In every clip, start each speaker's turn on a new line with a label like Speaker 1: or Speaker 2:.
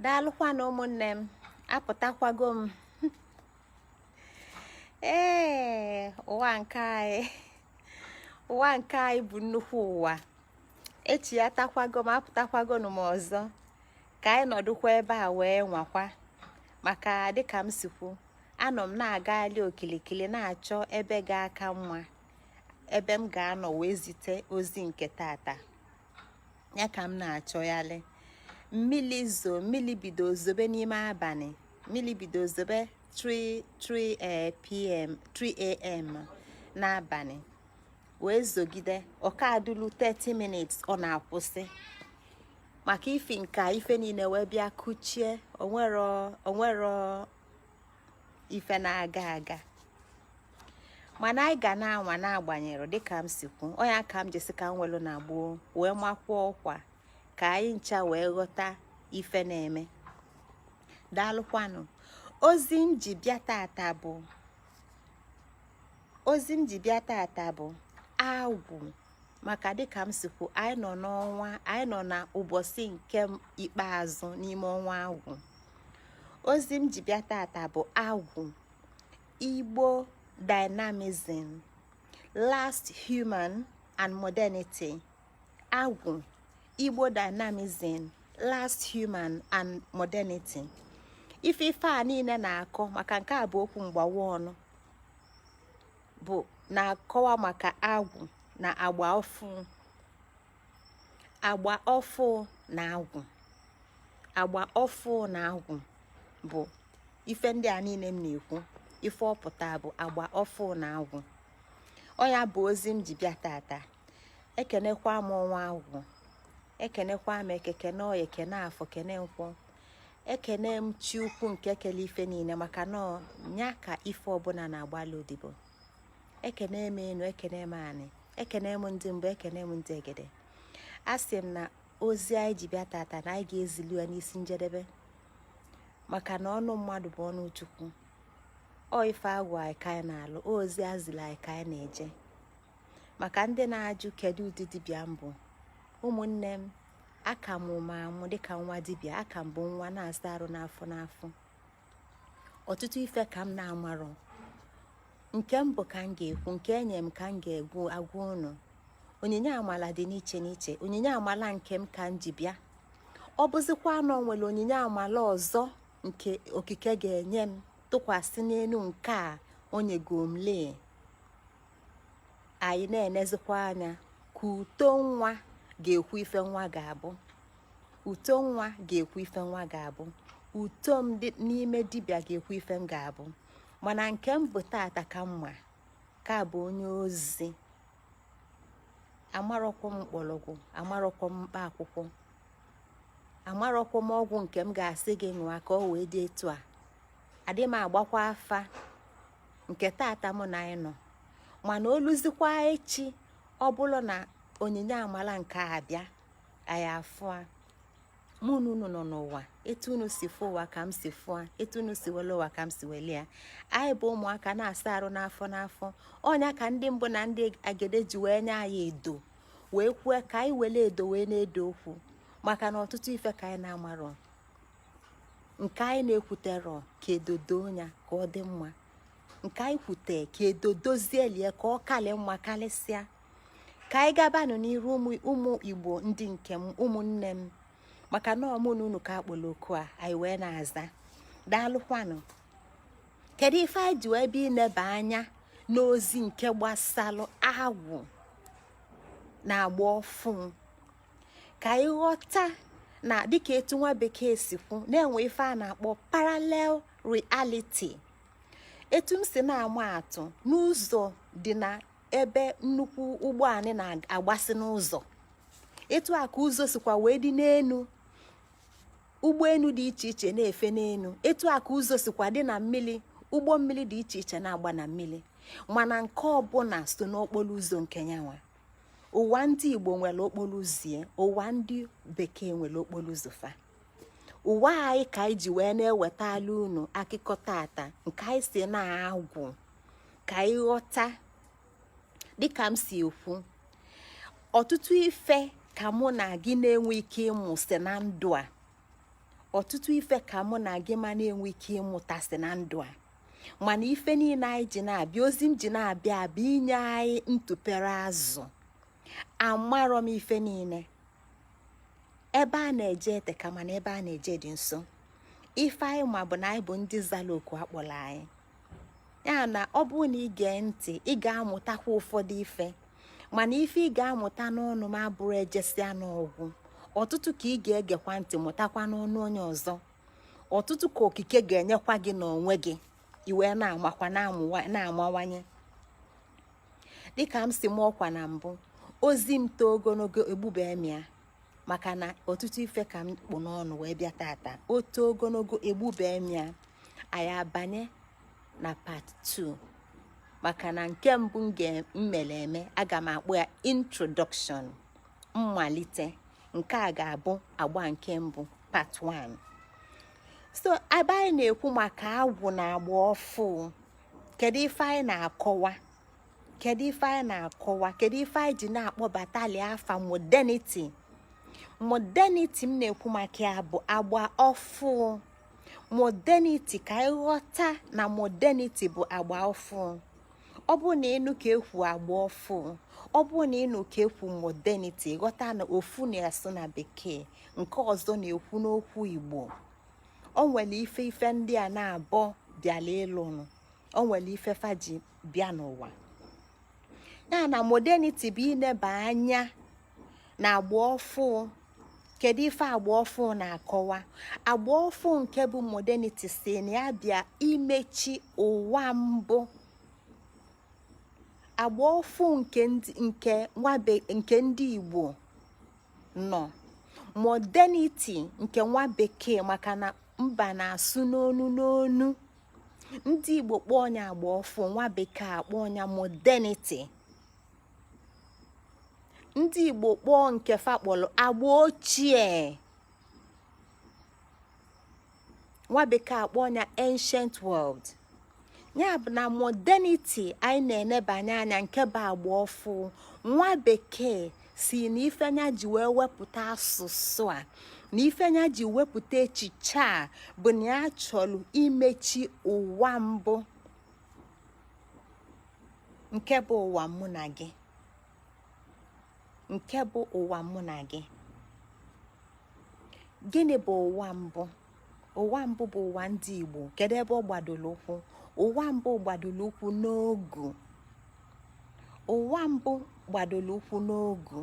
Speaker 1: daalụkwanụ ụmụnne m apụtakwago m ee ụwa nke anyị ụwa nke anyị bụ nnukwu ụwa echi ya takwago m apụtakwago m ọzọ ka anyị nọdụkwa ebe a wee nwakwa maka dịka m si kwu anọ m na-agagharị okilikili na-achọ ebe ga-aka mma ebe m ga-anọ wee zite ozi nke tata ya ka m na-achọgharị mmiri zo mmiri bido zobe n'ime abalị mmiri bido zobe 3 3 eh, pm 3 am n'abalị wee zogide ọka adụlu 30 minutes ọ na-akwụsị maka ifi nke a ife niile wee bịa kuchie o nwerọ ife na-aga aga mana anyị ga na-anwa na-agbanyere dịka m si kwu ọ nya ka m ji sị ka m welu na gboo wee makwuo ọkwa ka anyị ncha wee ghọta ife na-eme daalụkwanụ ozi m ji bịa tata bụ ozi m ji bịa tata bụ agwụ maka dịka m si kwu anyị nọ n'ọnwa anyị nọ na ụbọchị nke ikpeazụ n'ime ọnwa agwụ ozi m ji bịa tata bụ agwụ igbo dynamism last human and modernity agwụ igbo dynamism last human and modernity ife ife a niile na-akọ maka nke a bụ okwu mgbawa ọnụ bụ na-akọwa maka agwụ na agba ọfụ agba ọfụ na agwụ agba ọfụ na agwụ bụ ife ndị a niile m na-ekwu ife ọ pụta bụ agba ọfụ na agwụ ọ nya bụ ozi m ji bịa tata ekenekwa m ọnwa agwụ ekenekwa m eke kene oye kene afọ kene nkwọ ekene m chi ukwu nke kele ife niile maka na nya ka ife ọbụla na-agbalụ odibo ekene m enu ekene m anị ekene m ndị mbụ ekene m ndị egede asị m na ozi anyị ji bịa tata na anyị ga-ezilu ya n'isi njedebe maka na ọnụ mmadụ bụ ọnụ chukwu ọ ife a gwa anyị ka anyị na-alụ ozi e zili anyị ka anyị na-eje maka ndị na-ajụ kedu ụdị dibịa m bụ ụmụnne m aka m amụ amụ dịka nwa dibịa aka m bụ nwa na-asa arụ n'afọ n'afọ ọtụtụ ife ka m na-amarọ nke m bụ ka m ga-ekwu nke e nye m ka m ga-agwa ụnụ onyinye amala dị n'iche n'iche onyinye amala nke m ka m ji bịa ọ bụzikwa na ọ nwere onyinye amala ọzọ nke okike ga-enye m tụkwasị n'elu nke a o nyego m lee anyị na-enezikwa anya ka uto nwa ga-ekwu ife nwa ga-abụ uto nwa ga-ekwu ife nwa ga-abụ uto m n'ime dibịa ga-ekwu ife m ga-abụ mana nke m bụ tata ka m ma ka bụ onye ozi amarọkwọ m mkpọrọgwụ amarọkwọ m mkpa akwụkwọ amarọkwọ m ọgwụ nke m ga-asị gị ṅụa ka ọ wee dị etu a adị m agbakwa afa nke tata mụ na anyị nọ mana o luzikwa echi ọ bụrụ na onyinye amala nke a bịa anyị afụa mụ na unu nọ n'ụwa etu unu si fụ ụwa ka m si fụa etu unu si wele ụwa ka m si wele ya anyị bụ ụmụaka na-asa arụ n'afọ n'afọ ọ nya ka ndị mbụ na ndị egede ji wee nye anyị edo wee kwue ka anyị wele edo wee na-edo okwu maka na ọtụtụ ife ka anyị na-amarọ nke anyị na-ekwuterọ ka edodo ya ka ọ dị mma nke anyị kwute ka edodozielie ka ọ kalị mma kalịsịa ka anyị gabanụ n'iru ụmụ igbo ndị nke m ụmụnne m maka na ọ mụ na unu ka a kpọrọ oku a anyị wee na-aza daalụkwanụ kedu ife anyị ji wee bịa ineba anya n'ozi nke gbasalụ agwụ na agba ọfụụ ka ị ghọta na dịka etu nwa bekee si kwu na e nwe ife a na-akpọ parallel reality etu m si na-ama atụ na ụzọ dị na ebe nnukwu ụgbọ anị na-agbasi n'ụzọ etu a ka ụzọ sikwa wee dị n'enu ụgbọenu dị iche iche na-efe n'enu etu a ka ụzọ sikwa dị na mmili ụgbọ mmili dị iche iche na-agba na mmili mana nke ọbụna so n'okporo ụzọ nke nyanwa ụwa ndị igbo nwere okporo ụzọ ụwa ndị bekee nwere okporo ụzọ fa ụwa anyị ka anyị ji wee na-ewetala unu akụkọ tata nke anyị si n'agwụ ka anyị ghọta dịka m si ekwu ọtụtụ ife ka mụ na gị na-enwe ike ịmụsị na ndụ a ọtụtụ ife ka mụ na gị ma na-enwe ike ịmụtasị na ndụ a mana ife niine anyị ji na-abịa ozi m ji na-abịa abịa inye anyị ntụpere azụ amarọ m ife niine ebe a na-eje eteka mana ebe a na-eje dị nso ife anyị ma bụ na anyị bụ ndị zara oku a kpọrọ anyị ya na ọ bụrụ na ị gee ntị ị ga-amụtakwa ụfọdụ ife mana ife ị ga-amụta n'ọnụ m abụrọ ejesịa na ọ gwụ ọtụtụ ka ị ga-egekwa ntị mụtakwa n'ọnụ onye ọzọ ọtụtụ ka okike ga-enyekwa gị n'onwe gị ị wee na-amakwa na-amawanye dịka m si maa ọkwa na mbụ ozi m too ogologo egbube m ya maka na ọtụtụ ife ka m kpụ n'ọnụ wee bịa tata o too ogologo egbubee m ya anyị abanye na part 2 maka na nke mbụ m mere eme aga m akpọ ya introduction mmalite nke a ga-abụ agba nke mbụ part 1 so ebe anyị na-ekwu maka agwụ na agba ọfụ kedu ife anyị na-akọwa kedu ife anyị na-akọwa kedu ife anyị ji na-akpọbatali afa modernity modernity m na-ekwu maka ya bụ agba ọfụ modernity ka anyị ghọta na modernity bụ agba ọfụ ọ bụ na ị nụ ka ekwu agba ọfụ ọ bụ na ị nụ ka ekwu modernity ghọta na ofu na-asụ na bekee nke ọzọ na-ekwu n'okwu igbo o nwere ife ife ndị a naabọ bịala ịlụnụ o nwere ife fa ji bịa n'ụwa ya na modernity bụ ineba anya na agba ọfụ kedu ife agba ọfụ na-akọwa agba ọfụ nke bụ modernity sị na ya bịa imechi ụwa mbụ agba ọfụ nke ndị Igbo nọ modernity nke nwa bekee maka na mba na-asụ n'onu n'onu ndị igbo kpọọ nya agba ọfụ nwa bekee akpọọ nya modernity ndị igbo kpọọ nke fa kpọrọ agba ochie nwa bekee akpọọ nya ancient world ya bụ na modernity anyị na-enebanye anya nke bụ agba ọfụ nwa bekee sị na ife nya ji wee wepụta asụsụ a na ife nya ji wepụta echiche a bụ na ya chọrọ imechi ụwa mbụ nke bụ ụwa mụ na gị nke bụ ụwa mụ na gị gịnị bụ ụwa mbụ ụwa mbụ bụ ụwa ndị Igbo kedu ebe ọ gbadoro ụkwụ ụwa mbụ gbadoro ụkwụ n'ọgwụ ụwa mbụ gbadoro ụkwụ n'ọgwụ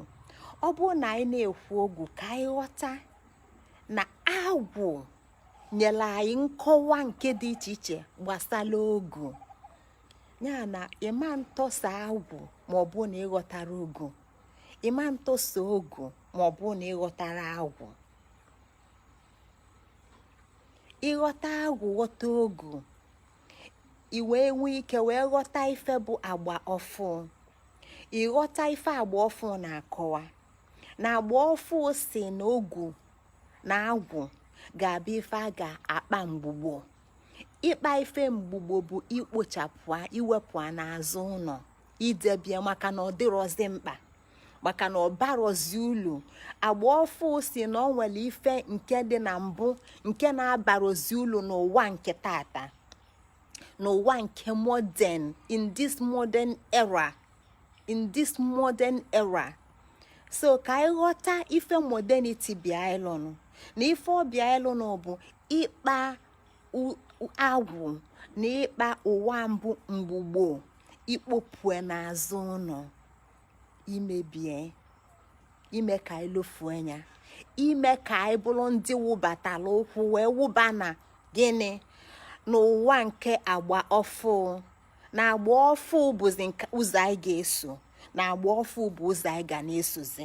Speaker 1: ọ bụrụ na anyị na-ekwu ọgwụ ka anyị ghọta na agwụ nyere anyị nkọwa nke dị iche iche gbasara ọgwụ ya na ị ma-atọsa agwụ ma ọ bụ na ị ghọtarọ ọgwụ ị ma-atọsa ọgwụ ma ọ bụ na ị ghọtarọ agwụ ị ghọta agwụ ghọta ọgwụ i wee nwee ike wee ghọta ife bụ agba ọfụ ị ghọta ife agba ọfụ na-akọwa na agba ọfụ sị na ọgwụ na agwụ ga-abụ ife a ga-akpa mgbugbo ịkpa ife mgbugbo bụ ikpochapụ ya iwepụ ya n'azụ ụnọ idebie maka na ọ dịrọzi mkpa maka na ọ barozi ulu agba ọfụụ si na o nwere ife nke dị na mbụ nke na-abarozi ulu n'ụwa nke tata n'ụwa nke modern in this modern era so ka anyị ghọta ife modernity bịa ịlụnụ na ife ọbịa ịlụnụ bụ ịkpa agwụ na ịkpa ụwa mbụ mgbugbo ikpopue n'azụ ụnọ imebie ime ka anyị lefue anya ime ka anyị bụrụ ndị wụbatara ụkwụ wee wụba na gịnị n'ụwa nke agba ọfụụ na agba ọfụụ bụzi ụzọ anyị ga-eso na agba ọfụụ bụ ụzọ anyị ga na-esozi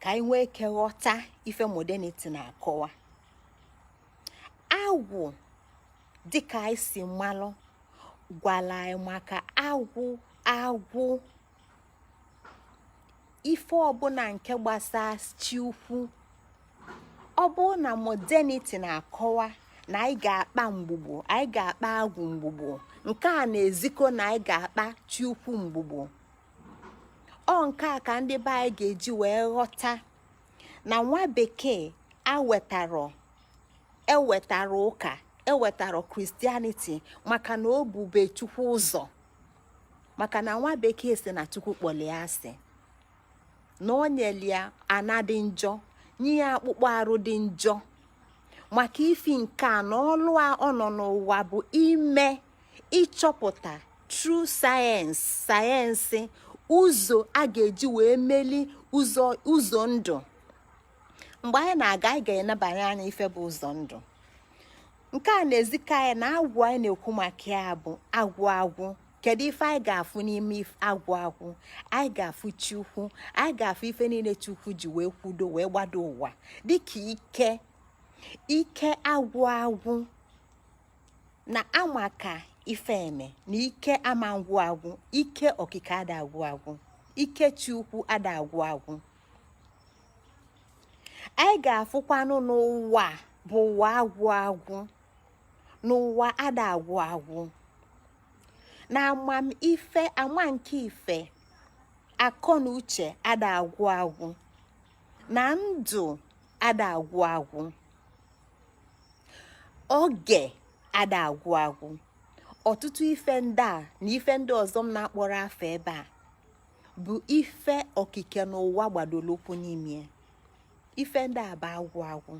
Speaker 1: ka anyị nwee ike ghọta ife modernity na-akọwa agwụ dịka anyị si malụ gwara anyị maka agwụ agwụ ife ọbụna nke gbasa chi ukwu ọ bụrụ na modernity na-akọwa na anyị ga-akpa mgbugbo anyị ga-akpa agwụ mgbugbo nke a na-ezikọ na anyị ga-akpa chi ukwu mgbugbo ọ nke a ka ndị be anyị ga-eji wee ghọta na nwa bekee ewetarọ ewetara ụka ewetara christianity maka na o bube chukwu ụzọ maka na nwa bekee si na chukwu kpọli asị na o nyeli ya ana dị njọ nye ya akpụkpọ arụ dị njọ maka ifi nke a na ọlụ a ọ nọ n'ụwa bụ ime ịchọpụta through science science ụzọ a ga-eji wee meli ụzọ ndụ mgbe anyị na-aga anyị ga-enebanye anya ife bụ ụzọ ndụ nke a na-ezika anyị na agwụ anyị na-ekwu maka ya bụ agwụ agwụ kedu ife anyị ga-afụ n'ime agwụ agwụ anyị ga-afụ chukwu anyị ga-afụ ife niile chukwu ji wee kwudo wee gbado ụwa dịka ike ike agwụ agwụ na amaka ife eme na ike ama agwụ agwụ ike okike ada agwụ agwụ ike chukwu ada agwụ agwụ anyị ga-afụkwanụ na ụwa bụ ụwa agwụ agwụ na ụwa ada agwụ agwụ na amamife ama nke ife akọ na uche ada agwụ agwụ na ndụ ada agwụ agwụ oge ada agwụ agwụ ọtụtụ ife ndị a na ife ndị ọzọ m na-akpọrọ afa ebe a bụ ife okike n'ụwa gbadoro ụkwụ n'ime ife ndị a bụ agwụ agwụ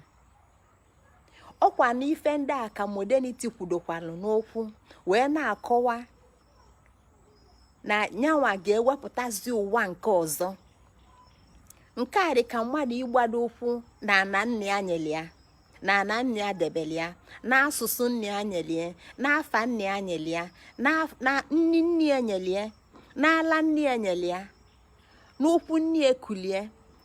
Speaker 1: ọkwa na ife ndị a ka modernity kwudokwalụ n'okwu wee na-akọwa na nyanwa ga-ewepụtazi ụwa nke ọzọ nke a dị ka mmadụ ịgbado ụkwụ na ana nna ya nyere ya na ana nna ya debere ya na asụsụ nna ya nyere ya na afa nna ya nyere ya na nni nne ya nyere ya n'ala nne ya nyere ya n'ụkwụ nne ya kulie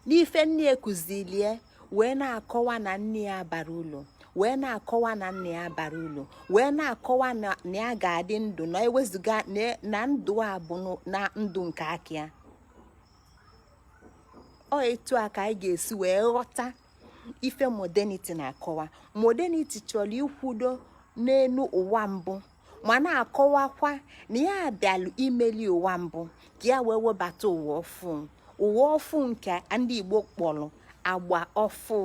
Speaker 1: n'ife nne ya kuzilie wee na-akọwa na nne ya abarọ ulu wee na-akọwa na nna ya abarọ ulu wee na-akọwa na ya ga-adị ndụ na ewezuga na ndụ a bụ na ndụ nke aka ya ọ etu a ka anyị ga-esi wee ghọta ife modernity na-akọwa modernity chọrọ ikwudo n'elu ụwa mbụ ma na-akọwakwa na ya bịalụ imeli ụwa mbụ ka ya wee webata ụwa ọfụ ụwa ọfụ nke ndị Igbo kpọrọ agba ọfụ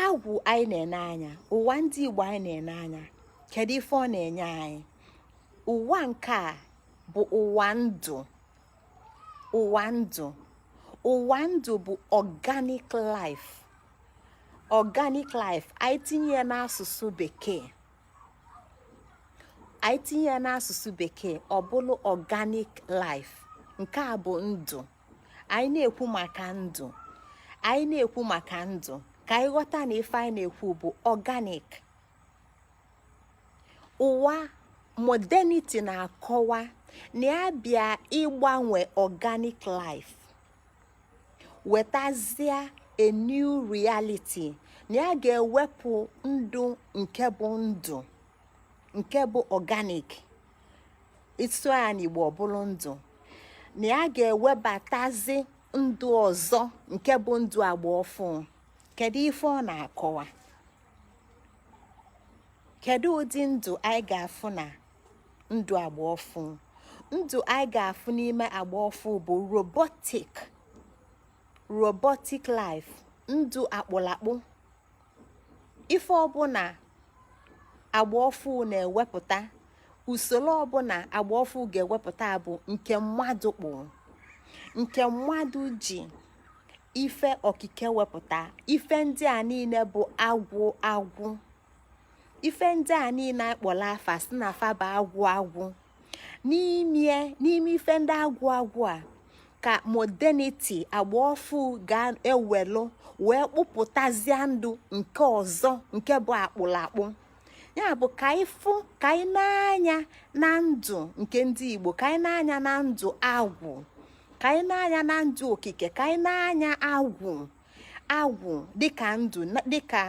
Speaker 1: agwụ anyị na-ene anya ụwa ndị Igbo anyị na-ene anya kedu ife ọ na-enye anyị ụwa nke a bụ ụwa ndụ ụwa ndụ ụwa ndụ bụ organic life organic life anyị tinye ya n'asụsụ bekee anyị tinye ya n'asụsụ bekee ọ bụrụ organic life nke a bụ ndụ anyị na-ekwu maka ndụ anyị na-ekwu maka ndụ ka anyị ghọta na ife anyị na-ekwu bụ organic ụwa modernity na-akọwa na ya bịa ịgbanwe organic life wetazia a new reality na ya ga-ewepụ ndụ nke bụ ndụ nke bụ organic i tinye ya n'Igbo ọ bụlụ ndụ na ya ga-ewebatazi ndụ ọzọ nke bụ ndụ agba ọfụ kedu ife ọ na-akọwa kedu ụdị ndụ anyị ga-afụ na ndụ agba ọfụ ndụ anyị ga-afụ n'ime agba ọfụ bụ robotic robotic life ndụ a kpụlụ akpụ ife ọbụla agba ọfụ na-ewepụta usoro ọbụla agba ọfụ ga-ewepụta bụ nke mmadụ kpụ nke mmadụ ji ife okike wepụta ife ndị a niile bụ agwụ agwụ ife ndị a niile a kpọlụ afa sị na fa bụ agwụ agwụ n'ime ife ndị agwụ agwụ a ka modernity agba ọfụ ga-ewelụ wee kpụpụtazie ndụ nke ọzọ nke bụ akpụlakpụ ya bụ ka anyị fụ ka anyị nee anya na ndụ nke ndị Igbo ka anyị nee anya na ndụ agwụ ka anyị nee anya na ndụ okike ka anyị nee anya agwụ agwụ dịka ndụ dịka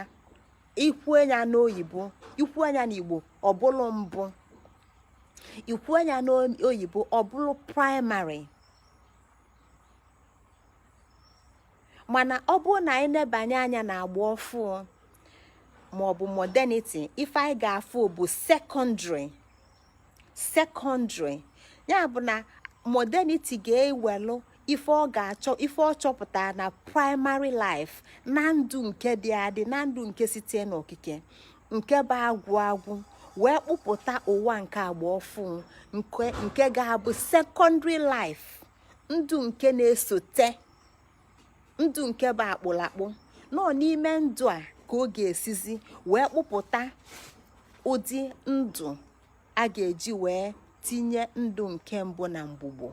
Speaker 1: i kwuo ya n'oyibo i kwuo ya n'igbo ọ bụrụ mbụ i kwuo ya n'oyibo ọ bụrụ primary mana ọ bụrụ na anyị nebanye anya na agba ọfụ maọbụ modernity ife anyị ga-afụ bụ secondary secondary ya bụ na modernity ga-ewelụ ife ọ chọpụta na primary life na ndụ nke dị adị na ndụ nke site n'okike nke bụ agwụ agwụ wee kpụpụta ụwa nke agba ọfụ nke ga-abụ secondary life ndụ nke na-esote ndụ nke bụ akpụlakpụ na ọọ n'ime ndụ a ka ọ ga-esizi wee kpụpụta ụdị ndụ a ga-eji wee tinye ndụ nke mbụ na mgbugbo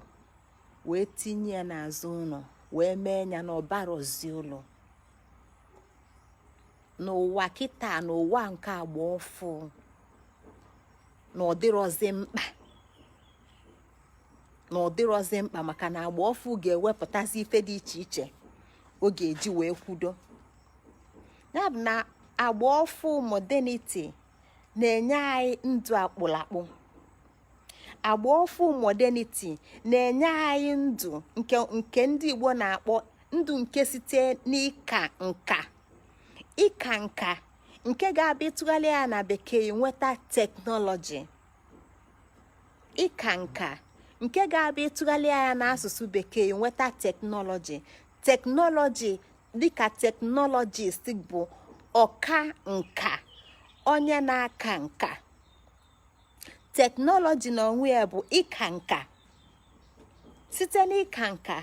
Speaker 1: wee tinye ya n'azụ ụnọ wee mee ya na ọ barọzi ulu n'ụwa kịta n'ụwa nke agba ọfụ na ọ dịrọzi mkpa na ọ dịrọzi mkpa maka na agba ọfụ ga-ewepụtazi ife dị iche iche ọ ga-eji wee kwudo ya bụ na agba ọfụ modernity na-enye anyị ndụ akpụlakpụ agba ọfụ modernity na-enye anyị ndụ nke ndị Igbo na-akpọ ndụ nke site n'ịka nka ịka nka nke ga-abụ ị tụghalịa ya na bekee i nweta technology ịka nka nke ga-abụ ị tụghalịa ya n'asụsụ bekee i nweta technology technology dịka technologist bụ ọka nka onye na-aka nka technology na onwe ya bụ ịka nka site n'ịka nka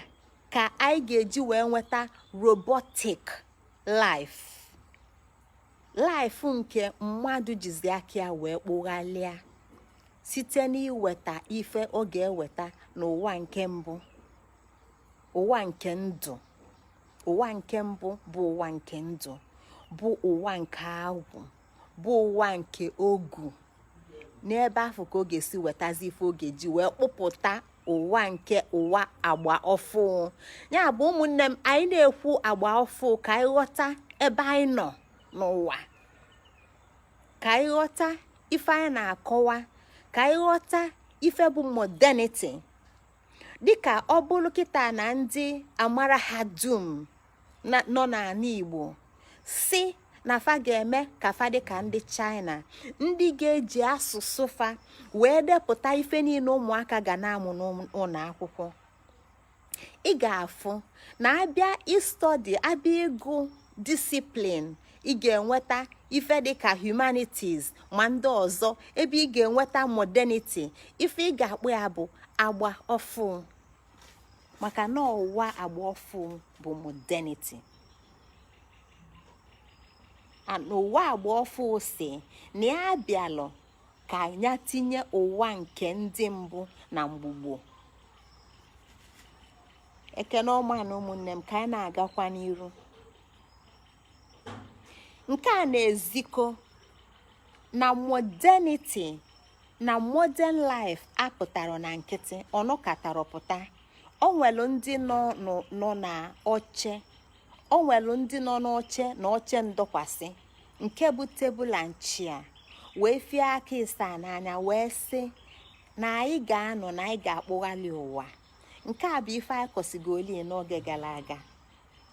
Speaker 1: ka anyị ga-eji wee nweta robotic life life nke mmadụ jizi aka ya wee kpụghalịa site n'iweta ife ọ ga-eweta n'ụwa nke mbụ ụwa nke ndụ ụwa nke mbụ bụ ụwa nke ndụ bụ ụwa nke agwụ bụ ụwa nke ogu n'ebe afụ ka ọ ga-esi wetazi ife ọ ga-eji wee kpụpụta ụwa nke ụwa agba ọfụ ya bụ ụmụnne m anyị na-ekwu agba ọfụ ka anyị ghọta ebe anyị nọ n'ụwa ka anyị ghọta ife anyị na-akọwa ka anyị ghọta ife bụ modernity dịka ọ bụlụ kịta na ndị amara ha dum nọ n'anị igbo sị na fa ga-eme ka fa dị ka ndị china ndị ga-eji asụsụ fa wee depụta ife niine ụmụaka ga na-amụ n'ụnọ akwụkwọ ị ga-afụ na a bịa ị study a bịa ịgụ discipline ị ga-enweta ife dịka humanities ma ndị ọzọ ebe ị ga-enweta modernity ife ị ga-akpọ ya bụ agba ọfụ maka na ụwa agba ọfụ bụ modernity n'ụwa agba ọfụ sị na ya bịalụ ka ya tinye ụwa nke ndị mbụ na mgbugbo ekene ọma nụ ụmụnne m ka anyị na-agakwa n'iru nke a na-ezikọ na modernity na modern life apụtarọ na nkịtị ọ nọkatarọ pụta o nwelu ndị nọ nọ na oche o nwere ndị nọ n'oche na oche ndọkwasị nke bụ table and chair wee fie aka ịsaa n'anya wee sị na anyị ga-anọ na anyị ga-akpụghalị ụwa nke a bụ ife anyị kọsịgoli n'oge gara aga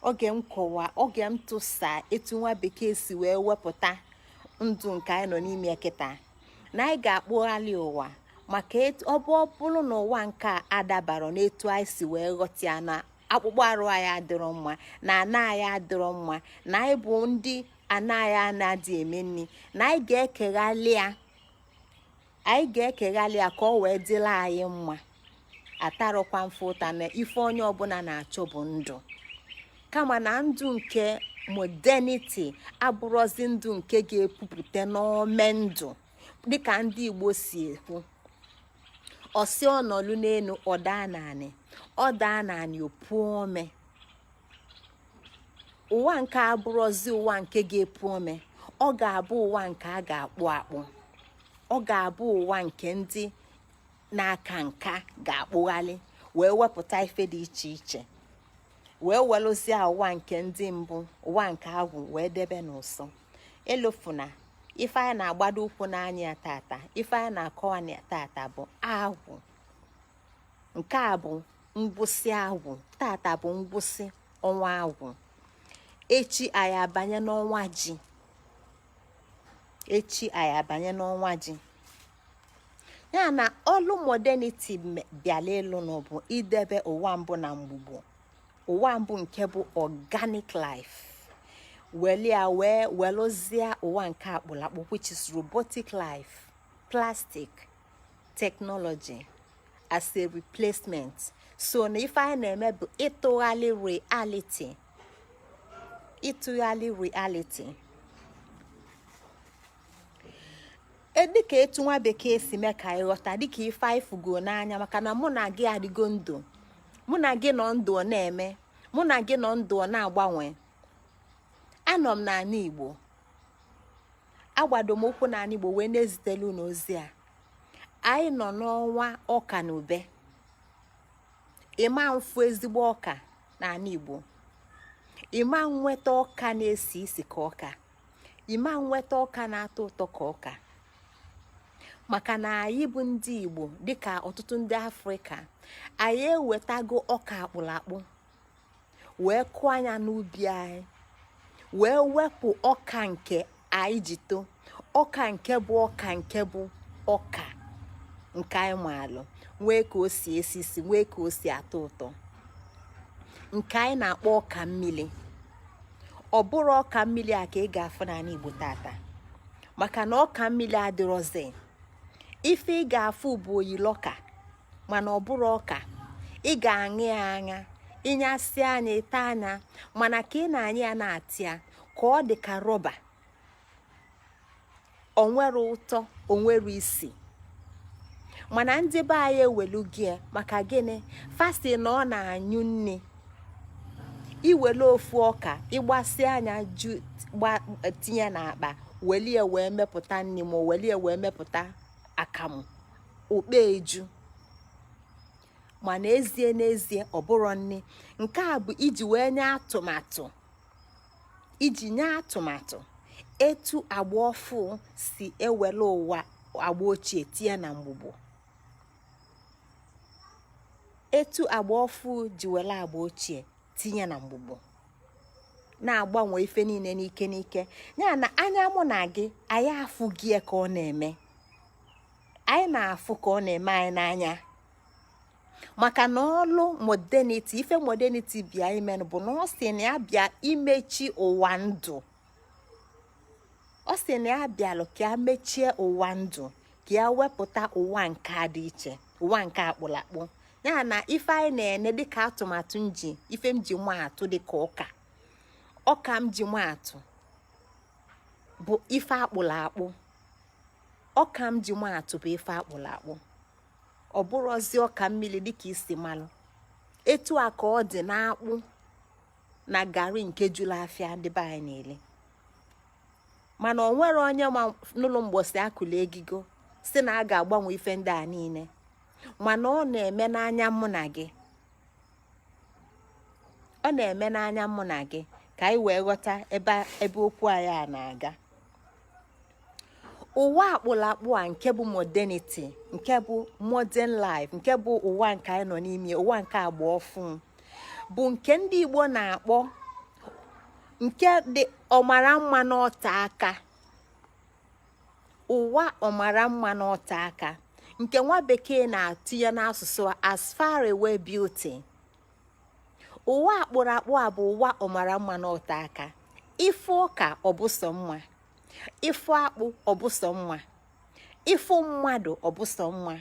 Speaker 1: oge m kọwa oge m tụsa etu nwa bekee si wee wepụta ndụ nke anyị nọ n'ime kịta na anyị ga-akpụghalị ụwa maka ọ bụ ọ bụlụ na ụwa nke a adabarọ n'etu anyị si wee ghọta ya na akpụkpọ arụ anyị adịrọ mma na ana anyị adịrọ mma na anyị bụ ndị ana anyị na-adị eme nni na anyị ga-ekeghalị ya anyị ga-ekeghalị ya ka ọ wee dịlị anyị mma atarọkwa m fa ụta na ife onye ọbụna na-achọ bụ ndụ kama na ndụ nke modernity abụrọzi ndụ nke ga-epupụta n'ome ndụ dịka ndị Igbo si ekwu ọ sị ọ nọlụ n'enu ọ daa n'anị ọ daa n'anị o puo ome ụwa nke a abụrọzi ụwa nke ga-epu ome ọ ga-abụ ụwa nke a ga-akpụ akpụ ọ ga-abụ ụwa nke ndị na-aka nka ga-akpụghalị wee wepụta ife dị iche iche wee welụzie ụwa nke ndị mbụ ụwa nke agwụ wee debe n'ụsọ elofuna ife anyị na-agbado ụkwụ na ya tata ife anyị na-akọwa na ya tata bụ agwụ nke a bụ ngwụsị agwụ tata bụ ngwụsị ọnwa agwụ echi anyị abanye n'ọnwa ji echi anyị abanye n'ọnwa ji ya na ọlụ modernity bịalụ ịlụ na bụ idebe ụwa mbụ na mgbugbo ụwa mbụ nke bụ organic life welia wee welụzie ụwa nke akpụlụ akpụ which is robotic life plastic technology as a replacement so na ife anyị na-eme bụ ịtụghalị reality ịtụghalị reality e, dịka etu nwa bekee si mee ka anyị ghọta dịka ife anyị fụgo n'anya maka na mụ na gị adịgo ndụ mụ na gị nọ ndụ ọ na-eme mụ na gị nọ ndụ ọ na-agbanwe anọ m n'anị igbo agbado m ụkwụ n'anị igbo wee na-ezitelụ unu ozi a anyị nọ n'ọnwa ọka na ube ịma afụ ezigbo ọka n'anị Igbo ịma nweta ọka na-esi isi ka ọka ịma nweta ọka na-atọ ụtọ ka ọka maka na anyị bụ ndị Igbo dịka ọtụtụ ndị Afrịka anyị ewetago ọka akpụlụ akpụ wee kụọ nya n'ubi anyị wee wepụ ọka nke anyị ji too ọka nke bụ ọka nke bụ ọka nke anyị maalụ nwee ka o si esi isi nwee ka o si atọ ụtọ nke anyị na-akpọ ọka mmili ọ bụrọ ọka mmili a ka ị ga-afụ n'anị Igbo tata maka na ọka mmili adịrọzi ife ị ga-afụ bụ oyili ọka mana ọ bụrọ ọka ị ga-aṅa ya aṅa ị ṅasịa nya ị taa nya mana ka ị na-aṅa ya na-atịa ka ọ dị ka rọba o nwerọ ụtọ o nwerọ isi mana ndị be anyị ewelugo ya maka gịnị first na ọ na-anyụ nni i welu ofu ọka ị gbasịa nya tinye n'akpa welie wee mepụta nni ma welie wee mepụta akamụ okpe eju ma n'ezie n'ezie ọ bụrọ nni nke a bụ iji wee nye atụmatụ iji nye atụmatụ etu agba ọfụ si ewelu ụwa agba ochie tinye na mgbugbo etu agba ọfụ ji welu agba ochie tinye na mgbugbo na-agbanwe ife niine n'ike n'ike nya n'anya mụ na gị anyị afụgo ya ka ọ na-eme anyị na-afụ ka ọ na-eme anyị n'anya maka na ọlụ modernity ife modernity bịa imenụ bụ na ọ sị na ya bịa imechi ụwa ndụ ọ sị na ya bịalụ ka ya mechie ụwa ndụ ka ya wepụta ụwa nke dị iche ụwa nke akpụlụ akpụ ya na ife anyị na-ene dịka atụmatụ m ji ife m ji maa atụ dịka ọka ọka m ji maa atụ bụ ife akpụlụ akpụ ọka m ji maa atụ bụ ife akpụlụ akpụ ọ bụrọzi ọka mmili dịka i si malụ etu a ka ọ dị n'akpụ na gari nke julu afịa ndị be anyị na-eli mana o nwerọ onye nụlụ mgbọsị a kụlụ egigo sị na a ga-agbanwe ife ndị a niile mana ọ na-eme n'anya mụ na gị ọ na-eme n'anya mụ na gị ka anyị wee ghọta ebe okwu anyị a na-aga ụwa akpụlụ akpụ a nke bụ modernity nke bụ modern life nke bụ ụwa nke anyị nọ n'ime ụwa nke agba ọfụụ bụ nke ndị Igbo na-akpọ nke dị ọmara mma n'ote aka ụwa ọmara mma n'ote aka nke nwa bekee na-atụnye n'asụsụ as far away beauty ụwa akpụrụ akpụ a bụ ụwa ọmara mma n'ote aka ị fụ ọka ọ bụ sọ mma ị fụ akpụ ọ bụ sọ mma ị fụ mmadụ ọ bụ sọ mma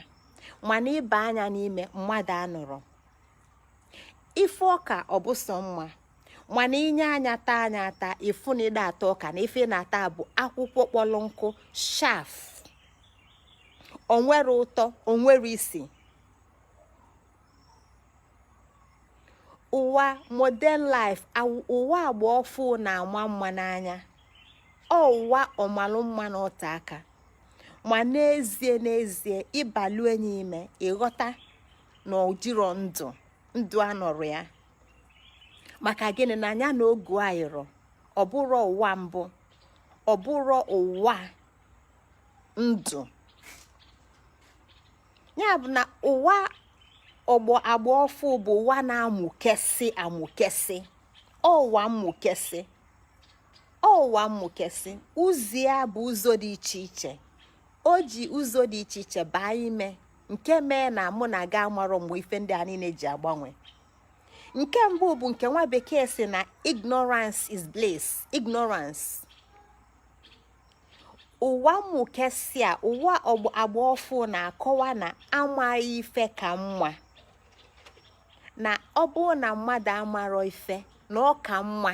Speaker 1: mana ị baa nya n'ime mmadụ anọrọ ị fụ ọka ọ bụ sọ mma mana i nye anya taa nya ata ị fụ na ị da-ata ọka na ife ị na-ata bụ akwụkwọ kpọrọ nkụ chaff o nwerọ ụtọ o nwerọ isi ụwa modern life ụwa agba ọfụụ na-ama mma n'anya ọ ụwa ọmalụ mma n'ote aka ma n'ezie n'ezie ị balụ nya ime ị ghọta na o jirọ ndụ ndụ anọrọ ya maka gịnị na ya na ogu ayịrọ ọ bụrọ ụwa mbụ ọ bụrọ ụwa ndụ ya bụ na ụwa ọgbọ agba ọfụụ bụ ụwa na-amụkesị amụkesị ụwa mmụkesị ụwa mmụkesị ụzọ ya bụ ụzọ dị iche iche o ji ụzọ dị iche iche baa ime nke mee na mụ na gị amarọ mgbe ife ndị a niile ji agbanwe nke mbụ bụ nke nwa bekee sị na ignorance is bliss ignorance ụwa mmụkesị a ụwa agba ọfụụ na-akọwa na amaghị ife ka mma na ọ bụrụ na mmadụ amarọ ife na ọ ka mma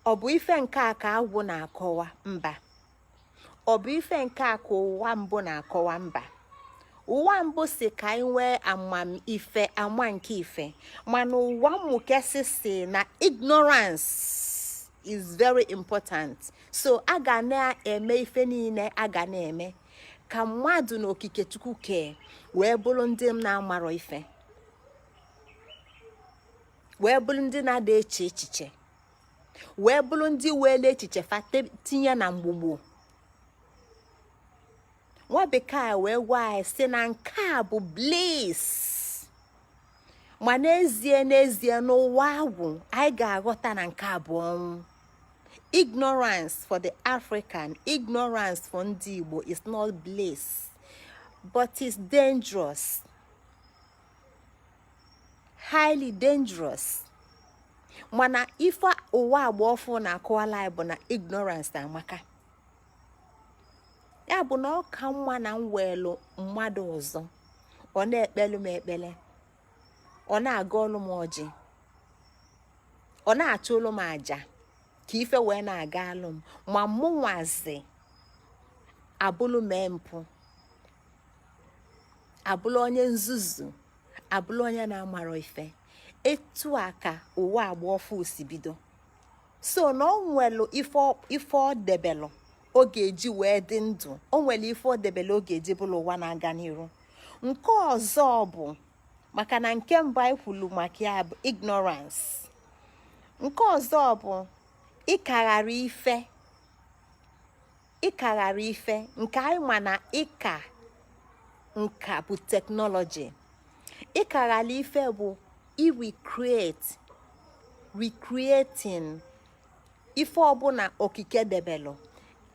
Speaker 1: ọ bụ ife nke a ka agwụ na-akọwa mba ọ bụ ife nke a ka ụwa mbụ na-akọwa mba ụwa mbụ si ka anyị nwee amamife ama nke ife mana ụwa mmụkesị si na ignorance is very important so a ga na-eme ife niile a ga na-eme ka mmadụ na okike chukwu kee wee bụlụ ndị na-amarọ ife wee bụlụ ndị na-ada eche echiche wee bụlụ ndị weelu echiche fa tinye na mgbugbu nwa bekee wee gwa anyị si na nke a bụ bliss ma n'ezie n'ezie n'ụwa agwụ anyị ga-aghọta na nke a bụ ọnwụ ignorance for the african ignorance for ndị igbo is not bliss but it's dangerous highly dangerous mana ife ụwa agba ọfụ na-akọwalụ anyị bụ na ignorance amaka ya bụ na ọ ka mma na m nweelu mmadụ ọzọ ọ na-ekpelu m ekpele ọ na-agọlụ m ọjị ọ na-achụlụ m aja ka ife wee na-agalụ m ma mụ nwazi abụlụ mee mpụ abụlụ onye nzuzu abụlụ onye na-amarọ ife etu a ka ụwa agba ọfụ si bido so na o nwelu ife ọ debelụ ọ ga-eji wee dị ndụ o nwelu ife ọ debelụ ọ ga-eji bulu ụwa na-aga n'iru nke ọzọ bụ maka na nke mbụ anyị kwulu maka ya bụ ignorance nke ọzọ bụ ịkaghara ife ịkaghara ife nke anyị ma na ịka nka bụ technology ịkaghalị ife bụ recreating ife ọbụna okike debelụ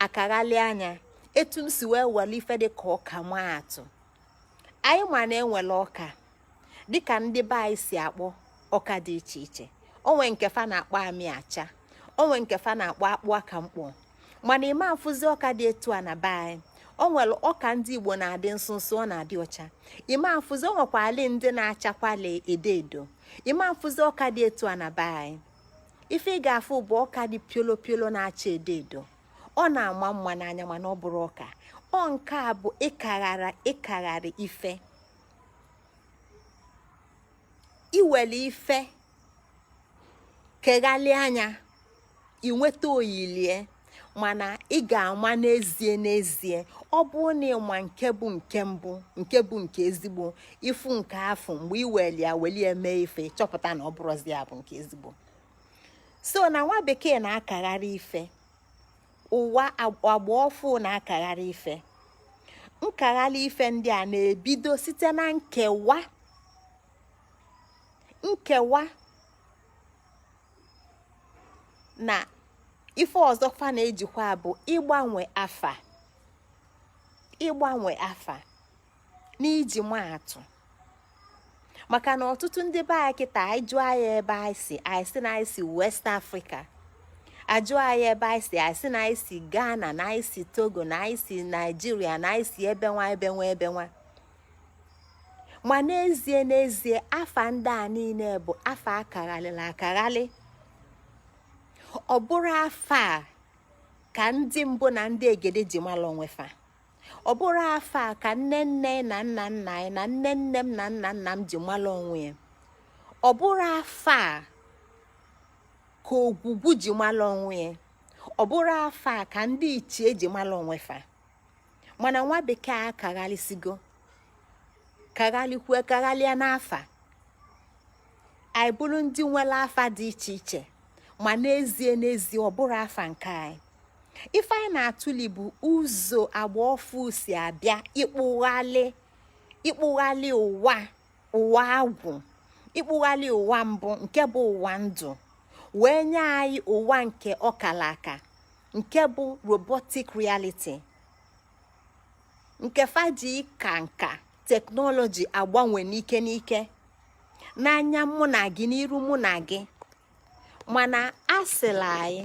Speaker 1: akaghalịa ya etu m si wee welu ife dị ka ọka maa atụ anyị ma na e nwelu ọka dịka ndị be anyị si akpọ ọka dị iche iche o nwee nke fa na-akpọ amị acha o nwee nke fa na-akpọ akpụ aka mkpọ mana ị ma afụzi ọka dị etu a na be anyị o nwere ọka ndị igbo na-adị nsụnsụ ọ na-adị ọcha ị ma afụzi o nwekwalị ndị na-achakwali edo edo ị ma afụzi ọka dị etu a na be anyị ife ị ga-afụ bụ ọka dị piolo piolo na-acha edo edo ọ na-ama mma n'anya mana ọ bụrọ ọka ọ nke a bụ ịkagharị ife iwelu ife keghalịa ya ị nweta oyilie mana ị ga-ama n'ezie n'ezie ọ bụ na ị ma nke bụ nke mbụ nke bụ nke ezigbo ị fụ nke afụ mgbe ị weli ya weli mee ife chọpụta na ọ bụrọzi ya bụ nke ezigbo so na nwa bekee na-akagharị ife ụwa agba ọfụ na-akagharị ife nkagharị ife ndị a na-ebido site na nkewa nkewa na ife ọzọ fa na-ejikwa bụ ịgbanwe afa ịgbanwe afa n'iji maa atụ maka na ọtụtụ ndị be anyị kịta a jụọ anyị ebe anyị si anyị sị na anyị si west africa a jụọ anyị ebe anyị si anyị sị na anyị si ghana na anyị si togo na anyị si nigeria na anyị si ebe nwa ebe nwa ebe nwa ma n'ezie n'ezie afa ndị a niile bụ afa a kaghalịlị akaghalị ọ bụrọ afa a ka ndị mbụ na ndị egede ji mara onwe fa ọ bụrọ afa a ka nne nne na nna nna anyị na nne nne m na nna nna m ji mara onwe ya ọ bụrọ afa a ka ogwugwu ji mara onwe ya ọ bụrọ afa a ka ndị ichie ji mara onwe fa mana nwa bekee akaghalịsigo kaghalịkwue kaghalịa n'afa anyị bụrụ ndị nwere afa dị iche iche ma n'ezie n'ezie ọ bụrọ afa nke anyị ife anyị na-atụli bụ ụzọ agba ọfụ si abịa ịkpụghalị ụwa ụwa agwụ ịkpụghalị ụwa mbụ nke bụ ụwa ndụ wee nye anyị ụwa nke ọkala aka nke bụ robotic reality nke fa ji ka nka technology agbanwe n'ike n'ike n'anya mụ na gị n'iru mụ na gị mana asịla anyị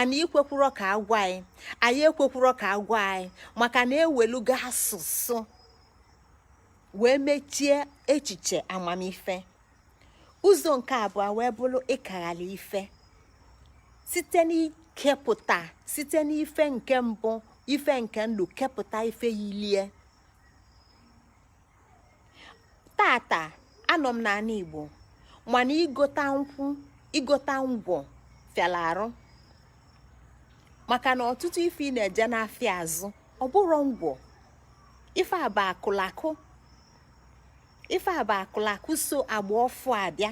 Speaker 1: anyị ekwekwurọ ka a gwa anyị anyị ekwekwurọ ka a gwa anyị maka na e welugo asụsụ wee mechie echiche amamife ụzọ nke abụọ wee bụrụ ịkaghalị ife site n'ikepụta site n'ife nke mbụ ife nke ndụ kepụta ife yilie tata anọ m n'anị Igbo mana igota nkwụ igota ngwọ fịalụ arụ maka na ọtụtụ ife ị na-eje n'afịa azụ ọ bụrọ ngwọ ife a bụ akụlakụ ife a bụ akụlakụ so agba ọfụ abịa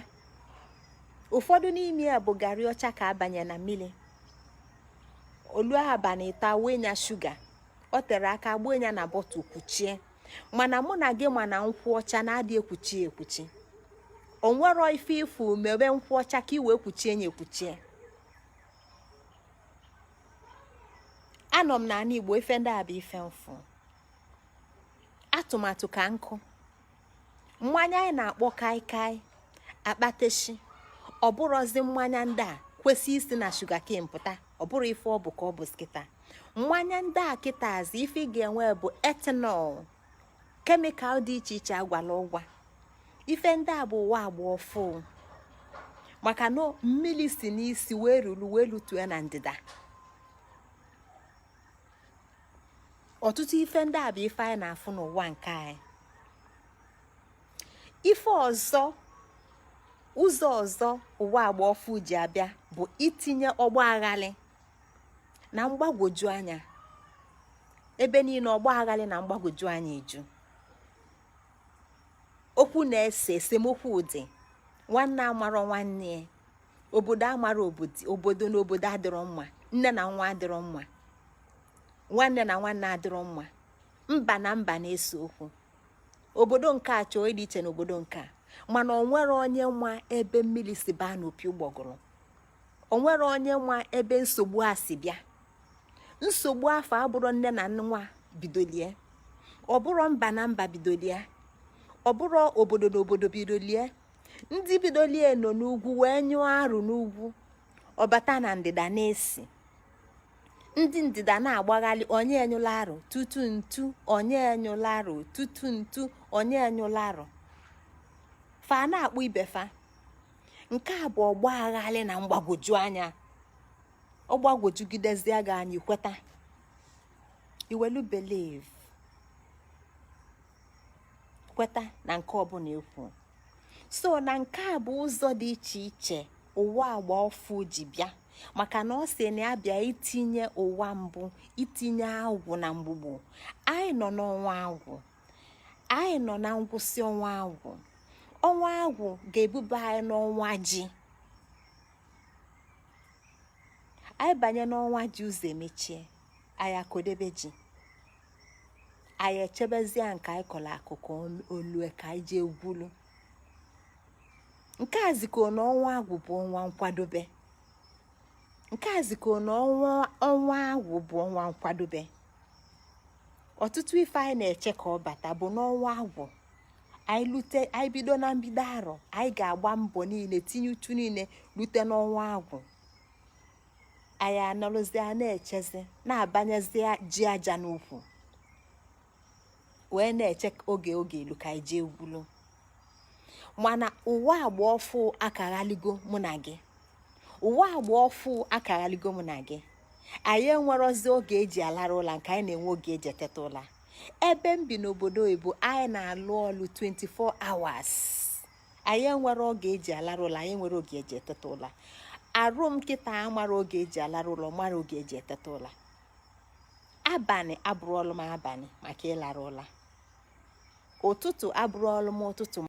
Speaker 1: ụfọdụ n'ime ya bụ garị ọcha ka a banye na mmili o lue abanị ịtọ a wụnye shuga o tere aka gbunye na bottle kwuchie mana mụ na gị ma na nkwụ ọcha na-adị ekwuchi ekwuchi onwero ife ị fụ mebe nkwụ ọcha ka i wee kwuchie nya ekwuchie anọ m n'anị igbo ife ndị a bụ ife m fụ atụmatụ ka nkụ mmanya anyị na-akpọ kai kai akpateshi ọ bụrụzi mmanya ndị a kwesị isi na shugaken pụta ọ bụrụ ife ọ bụ ka ọ bụ kịta mmanya ndị a kịtazi ife ị ga-enwe bụ etanọl kemikal dị iche iche agwala ụgwa ife ndị a bụ ụwa agba ọfụ maka na mmili si n'isi wee rulu wee lutue na ndịda ọtụtụ ife ndị a bụ ife anyị na-afụ n'ụwa nke anyị ife ọzọ ụzọ ọzọ ụwa agba ọfụ ji abịa bụ itinye ọgba aghalị na mgbagwoju anya ebe niine ọgba aghalị na mgbagwoju anya eju okwu na-ese esemokwu adị nwanne amarọ nwanne obodo amarọ obodo na obodo adịrọ mma nne na nwa adịrọ mma nwanne na nwanne adịrọ mma mba na mba na-ese okwu obodo nke a chọọ ịdị iche n'obodo nke a mana onwere onye ma ebe mmili si baa n'opi ụgbọgụrụ onwere onye ma ebe nsogbu a si bịa nsogbu afụ abụrọ nne na nwa bidolie ọ bụrọ mba na mba bidolie ọ bụrọ obodo na obodo bidolie ndị bidolie nọ n'ugwu wee nyụọ arụ n'ugwu ọ bata na ndịda na-esi ndị ndịda na-agbaghalị onye nyụlụ arụ tutu ntu onye nyụlụ arụ tutu ntu onye nyụlụ arụ fa na-akpụ ibe fa nke a bụ ọgba aghalị na mgbagwoju anya ọ gbagwojugidezie gị anya i kweta i welu believe kweta na nke ọbụna ekwu so na nke a bụ ụzọ dị iche iche ụwa agba ọfụ ji bịa maka na ọ sị na ya bịa itinye ụwa mbụ itinye agwụ na mgbugbo anyị nọ n'ọnwa agwụ anyị nọ na ngwụsị ọnwa agwụ ọnwa agwụ ga-ebuba anyị n'ọnwa ji anyị banye n'ọnwa ji ụzọ emechie anyị akọdebe ji anyị echebezie nke anyị kọlụ akụkụ o lue ka anyị jee gwulu nke a zikọ na ọnwa agwụ bụ ọnwa nkwadobe nke a zikọ na ọnwa agwụ bụ ọnwa nkwadobe ọtụtụ ife anyị na-eche ka ọ bata bụ n'ọnwa agwụ anyị bido na mbido arọ anyị ga-agba mbọ niine tinye uchu niine lute n'ọnwa agwụ anyị anọlụzia na-echezi na-abanyezi ji aja n'ukwu wee na-eche oge ọ ga-elu ka anyị jee gwulu mana ụwa agba ọfụ akaghaligo mụ na gị ụwa agba ọfụ akaghaligo mụ na gị anyị enwerọzi oge eji alara ụla nke anyị na-enwe oge eji eteta ụla ebe m bi n'obodo oyibo anyị na-alụ ọlụ 24 hours anyị enwerọ oge eji alarụ ụla anyị enwerọ oge eji eteta ụla arụ m kịta amarọ oge eji alarụ ụla amarọ oge eji eteta ụla abanị abụrọlụ m abanị maka ịlara ụla ụtụtụ abụrọlụ m ụtụtụ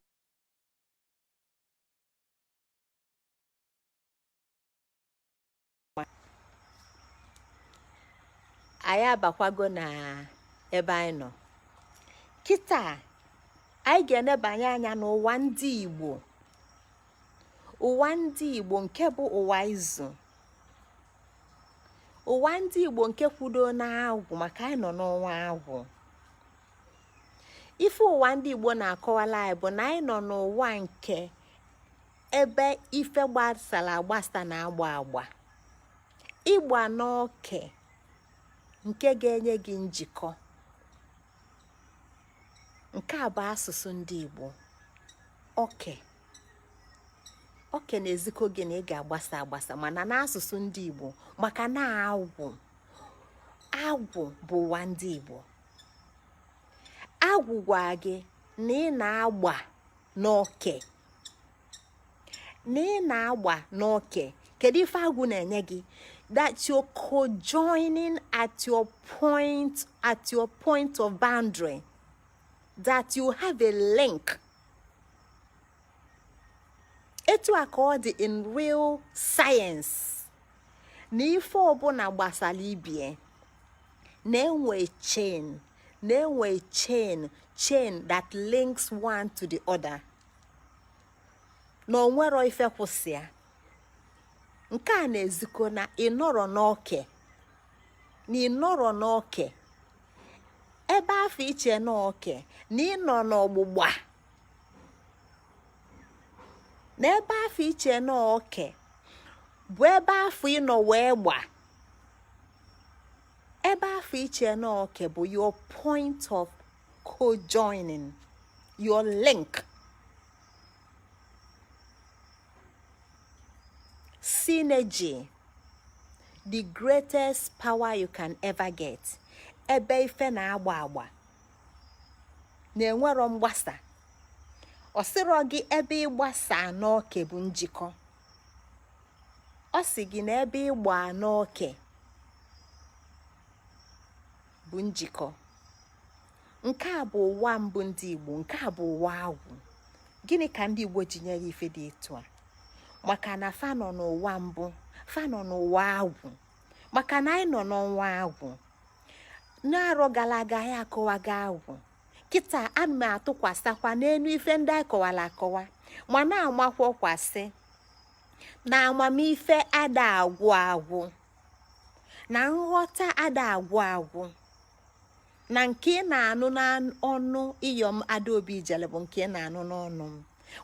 Speaker 1: anyị abakwago na ebe anyị nọ kịta anyị ga-enebanye anya n'ụwa ndị Igbo ụwa ndị Igbo nke bụ ụwa izu ụwa ndị Igbo nke kwudo n'agwụ maka anyị nọ n'ọnwa agwụ ife ụwa ndị Igbo na-akọwala anyị bụ na anyị nọ n'ụwa nke ebe ife gbasara agbasa na-agba agba ịgba n'oke nke ga-enye gị njikọ nke a bụ asụsụ ndị Igbo oke oke na-ezikọ gị na ị ga-agbasa agbasa mana n'asụsụ ndị Igbo maka na agwụ agwụ bụ ụwa ndị Igbo agwụ gwa gị na ị na-agba n'oke na ị na-agba n'oke kedu ife agwụ na-enye gị that you're co-joining at your point of boundary that you have a link etu a ka ọ dị in real science na ife ọbụla gbasara ibie na-enwe chain na-enwe chain that links one to the other na o nwerọ ife kwụ sọ ya nke a na-ezikọ na ị nọrọ n'oke na ị nọrọ n'oke ebe afụ i che n'oke na ị nọ n'ọgbụgba na ebe afụ i che n'oke bụ ebe afụ ị nọ wee gba ebe afụ i che na oke bụ your point of co-joining your link synergy the greatest power you can ever get ebe ife na-agba agba na enwerọ mgbasa ọ sịrọ gị ebe ịgbasa n'oke bụ njikọ ọ sị gị na ebe ịgba n'oke bụ njikọ nke a bụ ụwa mbụ ndị Igbo nke a bụ ụwa agwụ gịnị ka ndị Igbo ji nye ya ife dị etu a maka na fa nọ n'ụwa mbụ fa nọ n'ụwa agwụ maka na anyị nọ n'ọnwa agwụ n'arọ gara aga anyị akọwago agwụ kịta ana m atụkwasịkwa n'elu ife ndị anyị kọwara akọwa ma na-amakwakwasị na amamife ada agwụ agwụ na nghọta ada agwụ agwụ na nke ị na-anụ n'ọnụ iyom adaobi ijele bụ nke ị na-anụ n'ọnụ m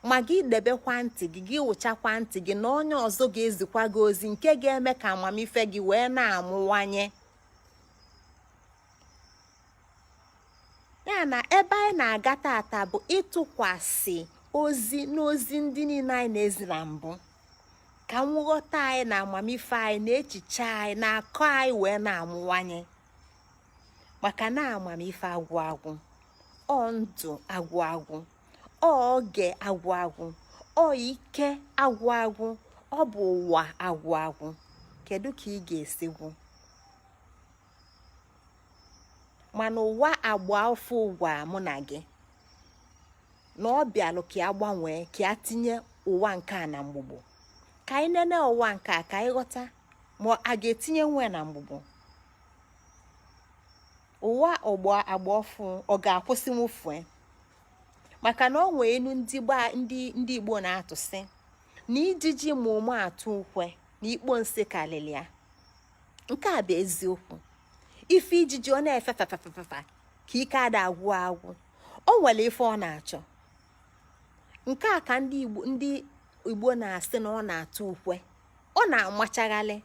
Speaker 1: ma gị debekwa ntị gị gị wụchakwa ntị gị na onye ọzọ ga-ezikwa gị ozi nke ga-eme ka amamife gị wee na-amụwanye ya na ebe anyị na-aga tata bụ ịtụkwasị ozi n'ozi ndị niile anyị na-ezi na mbụ ka nghọta anyị na amamife anyị na echiche anyị na akọ anyị wee na-amụwanye maka na amamife agwụ agwụ ọ ndụ agwụ agwụ ọ oge agwụ agwụ ọ ike agwụ agwụ ọ bụ ụwa agwụ agwụ kedu ka ị ga-esi gwụ mana ụwa agba ọfụ gwa mụ na gị na ọ bịalụ ka ya gbanwee ka ya tinye ụwa nke a na mgbugbo ka anyị nene ụwa nke a ka anyị ghọta ma a ga-etinyenwu ya na mgbugbo ụwa agba ọfụ ọ ga-akwụsịnwu ife maka na o nwee inu ndị igbo na-atụ sị na ijiji ma ụmụ atụ ukwe na ikpo nsị karịrị ya nke a bụ eziokwu ife ijiji ọ na-efe fefefefe ka ike ada agwụ agwụ o nwere ife ọ na-achọ nke a ka ndị igbo na-asị na ọ na-atụ ukwe ọ na-amachagharị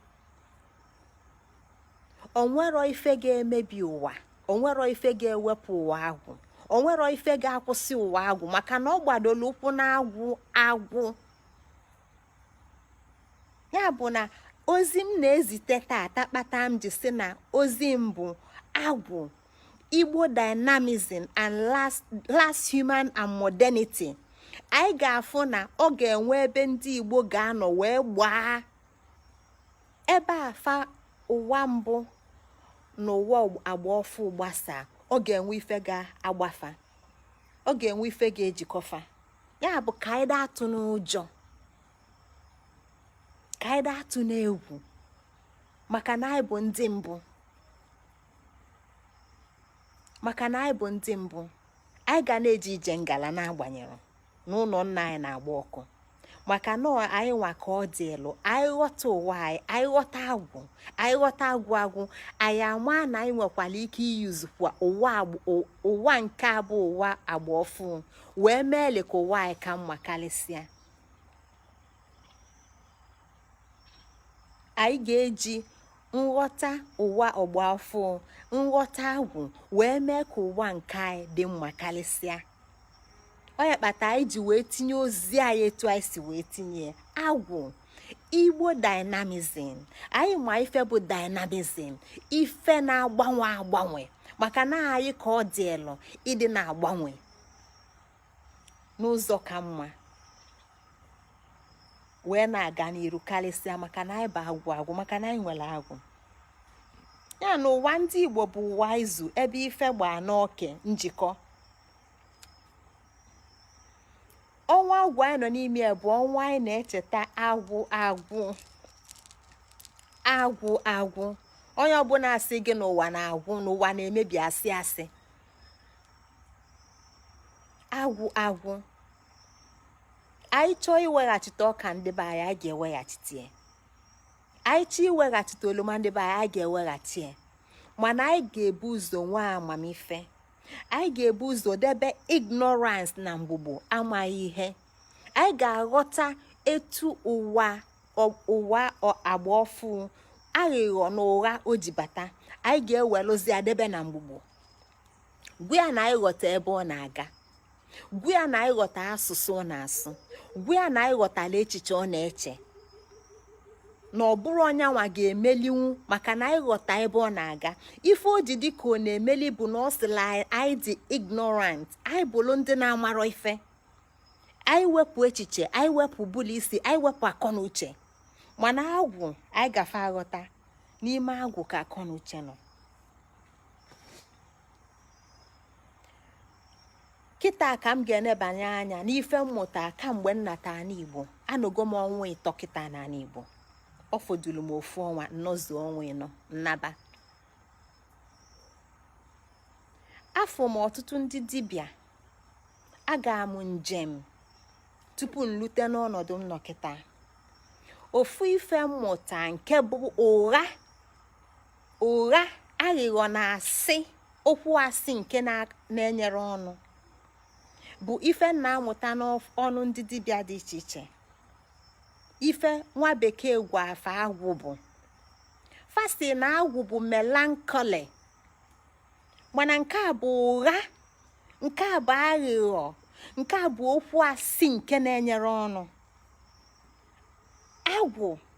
Speaker 1: o nwero ife ga-emebi ụwa o nwero ife ga-ewepụ ụwa agwụ o nwero ife ga-akwụsị ụwa agwụ maka na ọ gbadoro ụkwụ na agwụ agwụ ya bụ na ozi m na-ezite tata kpata m ji sị na ozi m bụ agwụ igbo dynamism and last human and modernity anyị ga-afụ na ọ ga-enwe ebe ndị igbo ga-anọ wee gbaa ebe afa ụwa mbụ na ụwa agba ọfụ gbasaa ọ ga-enwe ife ga-agba fa ọ ga-enwe ife ga-ejikọ fa ya bụ ka anyị da atụna ụjọ ka anyị da atụna egwu maka na anyị bụ ndị mbụ maka na anyị bụ ndị mbụ anyị ga na-eje ije ngala n'agbanyerọ na ụnọ nna anyị na-agba ọkụ maka na anyị nwa ka ọ dịịlụ anyị ghọta ụwa anyị anyị ghọta agwụ anyị ghọta agwụ agwụ anyị ama na anyị nwekwara ike use kwa ụwa nke a bụ ụwa agba ọfụ wee mee le ka ụwa anyị ka mma karịsịa anyị ga-eji nghọta ụwa agba ọfụ nghọta agwụ wee mee ka ụwa nke anyị dị mma karịsịa ọ ya kpata anyị ji wee tinye ozi anyị etu anyị si wee tinye agwụ igbo dynamism anyị ma ife bụ dynamism ife na-agbanwe agbanwe maka na anyị ka ọ dịịlụ ịdị na-agbanwe n'ụzọ ka mma wee na-aga n'iru karịsịa maka na anyị bụ agwụ agwụ maka na anyị nwere agwụ ya na ụwa ndị igbo bụ ụwa izu ebe ife gbaa n'oke njikọ ọnwa agwụ anyị nọ n'ime ya bụ ọnwa anyị na-echeta agwụ agwụ agwụ agwụ onye ọbụna sị gị na ụwa na-agwụ na ụwa na-emebi asị asị agwụ agwụ anyị chọọ iweghachite ọka ndị be anyị a ga-eweghachite ya anyị chọọ iweghachite oroma ndị be anyị a ga-eweghachite ya mana anyị ga-ebu ụzọ nwee amamife anyị ga-ebu ụzọ debe ignorance na mgbugbo amaghị ihe anyị ga-aghọta etu ụwa agba ọfụ aghịghọ na ụgha o ji bata anyị ga-ewelụzi ya debe na mgbugbo gwa ya na anyị ghọta ebe ọ na-aga gwa ya na anyị ghọta asụsụ ọ na-asụ gwa ya na anyị ghọtala echiche ọ na-eche na ọ bụrọ nyanwa ga-emelinwu maka na anyị ghọta ebe ọ na-aga ife o ji dị ka ọ na-emeli bụ na ọ sịlị anyị dị ignorant anyị bụrụ ndị na-amarọ ife anyị wepụ echiche anyị wepụ ụbụlụ isi anyị wepụ akọ na uche mana agwụ anyị gafe aghọta n'ime agwụ ka akọ na uche nọ kịta ka m ga-enebanye anya n'ife m mụta kamgbe m nata ana igbo anọgo m ọnwa ịtọ kịta na ana igbo ọ fọdụlụ m ofu ọnwa m nọzuo ọnwa ịnọ m naba afụ m ọtụtụ ndị dibịa aga m njem tupu m lute n'ọnọdụ m nọ kịta ofu ife m mụta nke bụ ụgha ụgha aghịghọ na asị okwu asị nke na-enyere ọnụ bụ ife na-apụta n'ọnụ ndị dibịa dị iche iche ife nwa bekee gụ afa agwụ bụ first na agwụ bụ melancholy mana nke a bụ ụgha nke a bụ aghịghọ nke a bụ okwu asị nke na-enyere ọnụ agwụ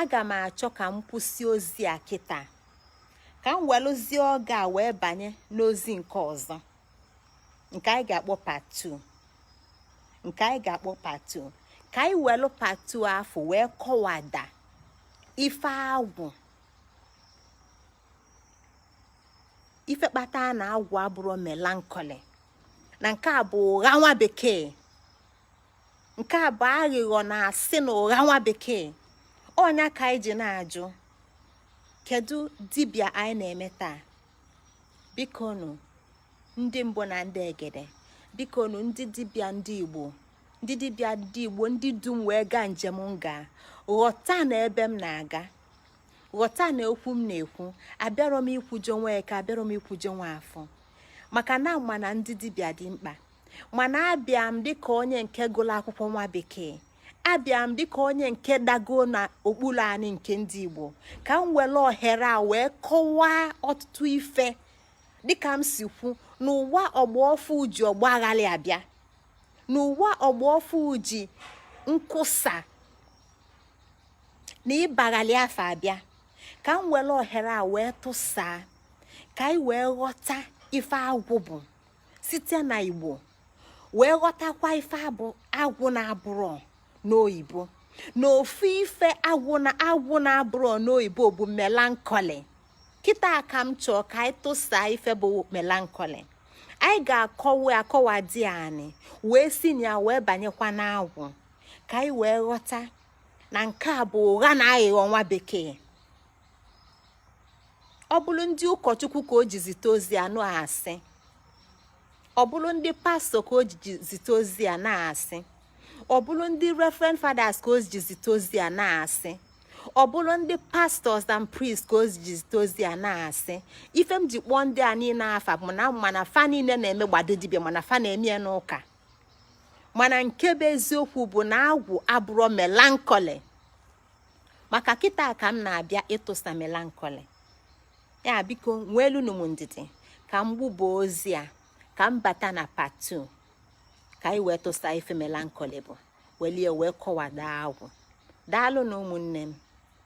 Speaker 1: aga m achọ ka m kwụsị ozi a kịta ka m welụzie oge a wee banye n'ozi nke ọzọ nke anyị ga-akpọ part two nke anyị ga-akpọ part two ka anyị welụ part two afụ wee kọwada ife agwụ ife kpata na agwụ abụrọ melancholy na nke a bụ ụgha nwa bekee nke a bụ aghịghọ na asị na ụgha nwa bekee ọ nya ka anyị ji na-ajụ kedu dibịa anyị na-eme taa biko nụ ndị mbụ na ndị egede biko nụ ndị dibịa ndị igbo ndị dibịa ndị igbo ndị du m wee gaa njem m gaa ghọta na ebe m na-aga ghọta na okwu m na-ekwu abịarọ m ikwujọ Nweke abịarọ m ikwujọ Nwafọ maka na ama m na ndị dibịa dị mkpa mana abịa m dịka onye nke gụrụ akwụkwọ nwa bekee abịa m dịka onye nke dago na okpuru anị nke ndị Igbo ka m were ohere a wee kọwaa ọtụtụ ife dịka m si kwu n'ụwa ọgbọ ọfụụ ji ọgbaghalị abịa n'ụwa ọgbọ ọfụụ ji nkwusa na ịbaghalị afa abịa ka m were ohere a wee tụsaa ka anyị wee ghọta ife agwụ bụ site na igbo wee ghọtakwa ife abụ agwụ na-abụrọ n'oyibo na ofu ife agwụ na-abụrọ n'oyibo bụ melancholy kịta ka m chọ ka anyị tụsa ife bụ melancholy anyị ga-akọwada ya anyị wee si na ya wee banyekwa n'agwụ ka anyị wee ghọta na nke a bụ ụgha na aghịghọ nwa bekee ọ bụrụ ndị ụkọchukwu ka o ji zite ozi a na-asị ọ bụrụ ndị pastor ka o ji zite ozi a na-asị ọ bụrụ ndị reverend fathers ka o ji zite ozi a na-asị ọ bụrụ ndị pastors and priests ka o ji zite ozi a na-asị ife m ji kpọọ ndị a niile afa bụ na m ma na fa niile na-emegbado dibịa mana fa na-eme ya n'ụka mana nke bụ eziokwu bụ na agwụ abụrọ melancholy maka kịta ka m na-abịa ịtụsa melancholy ya biko nweelụnụ m ndidi ka m gbubo ozi a ka m bata na part two ka anyị wee tụsa ife melancholy bụ welụ ya wee kọwada agwụ daalụnụ ụmụnne m